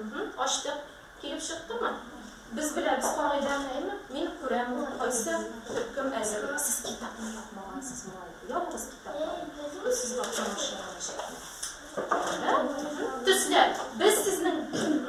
Уһу, ачтык. Килеп чыктымы? Без беләбез кагыйдәңнеме? Мин күрәм, кайсы төркем әзер. Сез китапны япмагансыз, малай. Ябыгыз китапларны. Без сез бакча машина мәчәтне. Ә? Уһу, төсләр. Без сезнең Уһу.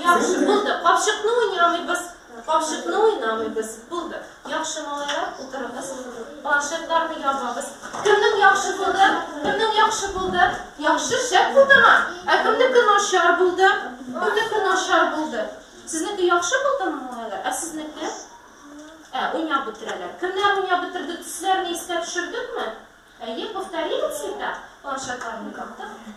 Яхшы, булды. Капчыкны уйнамыйбыз. Капчыкны уйнамыйбыз. Булды. Яхшы малайлар, утырыгыз. Планшетларны ябабыз. Кемнең яхшы булды? Кемнең яхшы булды? Яхшы, шәп булдымы? Ә кемнеке начар булды? Кемнеке начар булды? Сезнеке яхшы булдымы, малайлар? Ә сезнеке? Ә, уйнап бетерәләр. Кемнәр уйнап бетерде? Төсләрне искә төшердекме? Әйе, повторили всегда. Планшетларны яптык.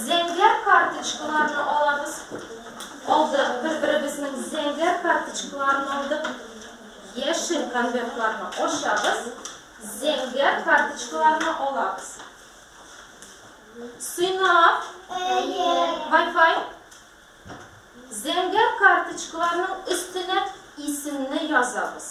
Зәңгәр карточкаларны алабыз. Алдык, бер-беребезнең зәңгәр карточкаларын алдык. Яшел конвертларны ошабыз. Зәңгәр карточкаларны алабыз. Сыйнап. Әйе. Wi-Fi. Зәңгәр карточкаларның өстенә исемне язабыз.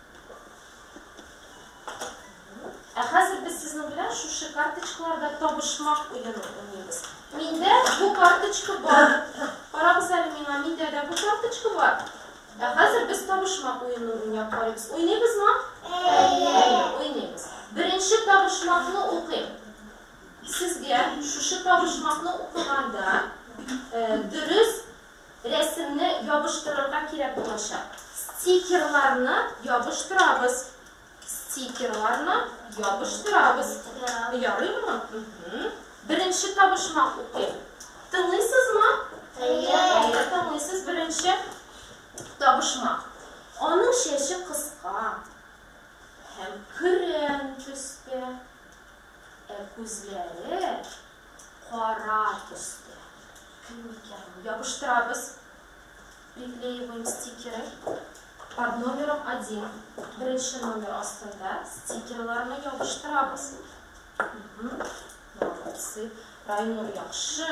Ә хәзер без сезнең белән шушы карточкаларда табышмак уены уйныйбыз. Миндә бу карточка бар. Карагыз әле миңа, миндә дә бу карточка бар. Ә хәзер без табышмак уены уйнап карыйбыз. Уйныйбызмы? Әйе, уйныйбыз. Беренче табышмакны укыйм. Сезгә шушы табышмакны укыганда, э, дөрес Рәсемне ябыштырырга кирәк булачак. Стикерларны ябыштырабыз. Стикерларны ябыштырабыз. Ярыймы? Беренче табышмак укыйм. Тыңлыйсызмы? Әйе. Тыңлыйсыз беренче табышмак. Аның чәче кыска һәм көрән төстә. Ә күзләре Кара төстә. Кем микән ул? Ябыштырабыз. Приклеиваем стикеры. Под номером один. Беренче номер астында стикерларны ябыштырабыз. Молодцы. Райнур яхшы.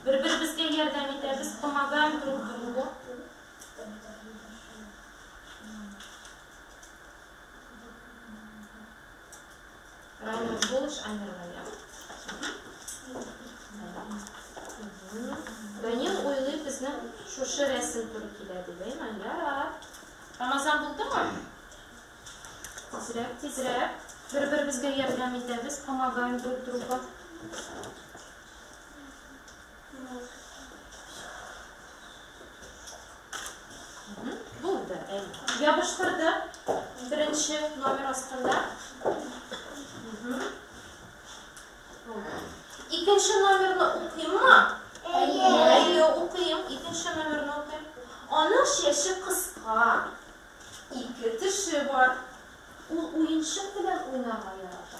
Бер-беребезгә ярдәм итәбез, помогаем друг другу. Данил уйлый безнең шушы рәсем туры килә дигәйме? Ярар. Рамазан булдымы? Тизрәк, тизрәк. Бер-беребезгә ярдәм итәбез, помогаем друг друга. Булды, әйе. Ябыштырды. Беренче номер астында. Икенче номерны укыйммы? Әйе. Әйе, укыйм. Икенче номерны укыйм. Аның шеше кыска. Ике теше бар. Ул уенчык белән уйнарга ярата.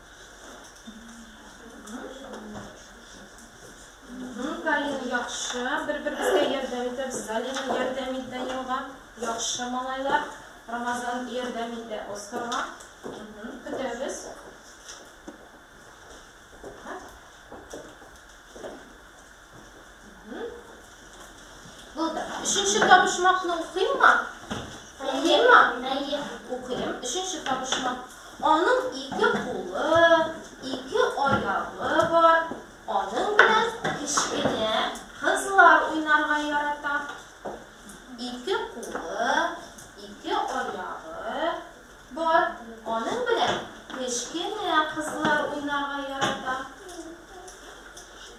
Галина яхшы, бер-беребезгә ярдәм итәбез. Галина ярдәм итә елга. Яхшы малайлар. Рамазан ярдәм итә Оскарга. Көтәбез. Булды. Өченче табышмакны укыйммы? Укыйммы? Әйе. Укыйм. Өченче табышмак. Аның ике кулы, ике аягы бар. Аның белән кечкенә кызлар уйнарга ярата. Ике кулы, ике аягы бар. Аның белән кечкенә кызлар уйнарга ярата.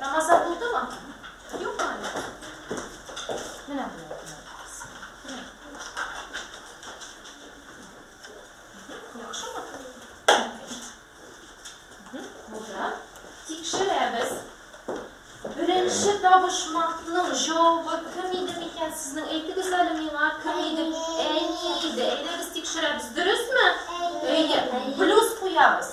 Рамазан булдымы? Юкмы әле? Менә Яхшымы? Булды. Тикшерәбез. Беренче табышмакның җавабы кем иде микән? Сезнең әйтегез әле миңа, кем иде? Әни иде. Әйдәгез тикшерәбез. Дөресме? Әйе. Плюс куябыз.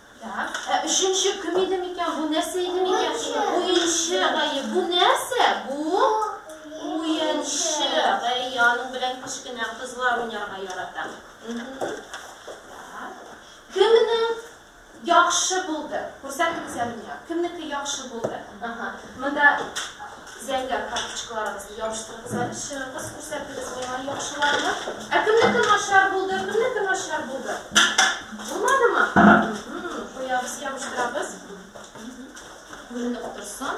Так, ә өченче кем иде микән? Бу нәрсә иде микән? Уенчы гае. Бу нәрсә? Бу уенчы гае. Аның белән кечкенә кызлар уйнарга ярата. Кемне яхшы булды? Күрсәтегез әле миңа. Кемнеке яхшы булды? Ага. Монда Зәңгәр карточкаларыгызны ябыштырыгыз әле, чыгыгыз, күрсәтегез миңа яхшыларны. Ә кемнеке начар булды, кемнеке начар булды? Булмадымы? Куябыз, ябыштырабыз. Күренеп торсын.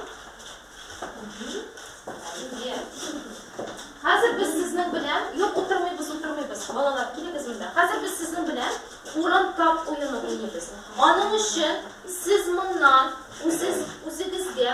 Хәзер без сезнең белән, юк, утырмыйбыз, утырмыйбыз, балалар, килегез монда. Хәзер без сезнең белән урын тап уены уйныйбыз. Аның өчен сез моннан үзегезгә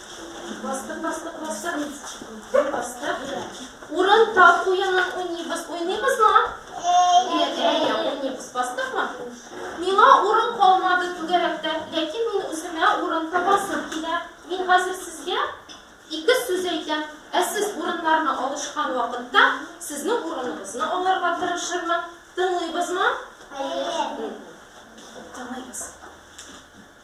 Бастык, бастык, бастык, бастык, бастык. Урын тап, уенын уйныйбыз, уйныйбызмы? Әйе, әйе, уйныйбыз. Бастыкмы? Миңа урын калмады түгәрәктә, ләкин мин үземә урын табасым килә. Мин хәзер сезгә ике сүз әйтәм. Ә сез урыннарны алышкан вакытта сезнең урыныгызны алырга тырышырмын. Тыңлыйбызмы? Әйе. Тыңлыйбыз.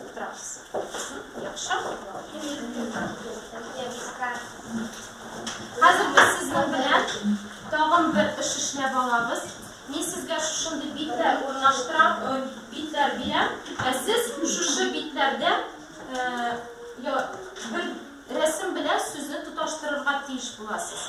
Утырабыз. Яхшы? Хәзер без сезнең белән тагын бер эш эшләп алабыз. Мин сезгә шушындый битләр урнаштырам, э, битләр бирәм. Ә сез шушы битләрдә э, бер рәсем белән сүзне тоташтырырга тиеш буласыз.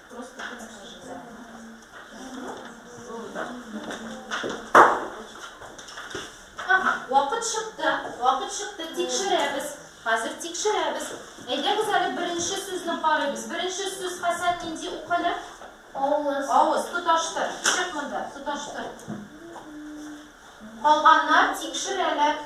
Вакыт чыкты, вакыт чыкты, тикшерәбез. Хәзер тикшерәбез. Әйдәгез әле беренче сүзне карыйбыз. Беренче сүз Хәсән нинди укылыр? Авыз. Авыз, тоташтыр. Чык монда, тоташтыр. Калганнар тикшерәләр.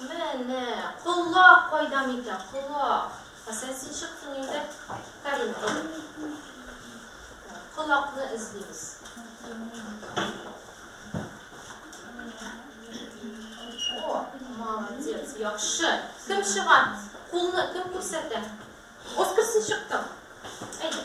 Мә, нә, колак кайда микән, колак? Хәсән, син чыктың инде. Карин, колакны эзлибез. О, молодец, яхшы. Кем чыга? Кулны кем күрсәтә? Оскар, син чыктың. Әйдә.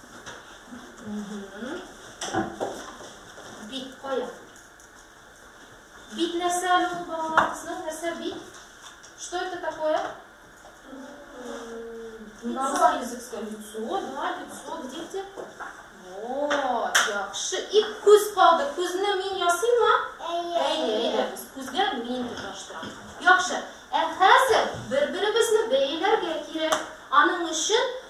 Бит кая? Бит нәрсә әле ул балаларыбызның? Нәрсә бит? Что это такое? Лицо. языкское лицо, да, лицо, дети. Вот, яхшы. И күз калды. Күзне мин ясыймы? Әйе. Әйе, әйе. Без күзгә мин тоташтырам. Яхшы. Ә хәзер бер-беребезне бәйләргә кирәк. Аның өчен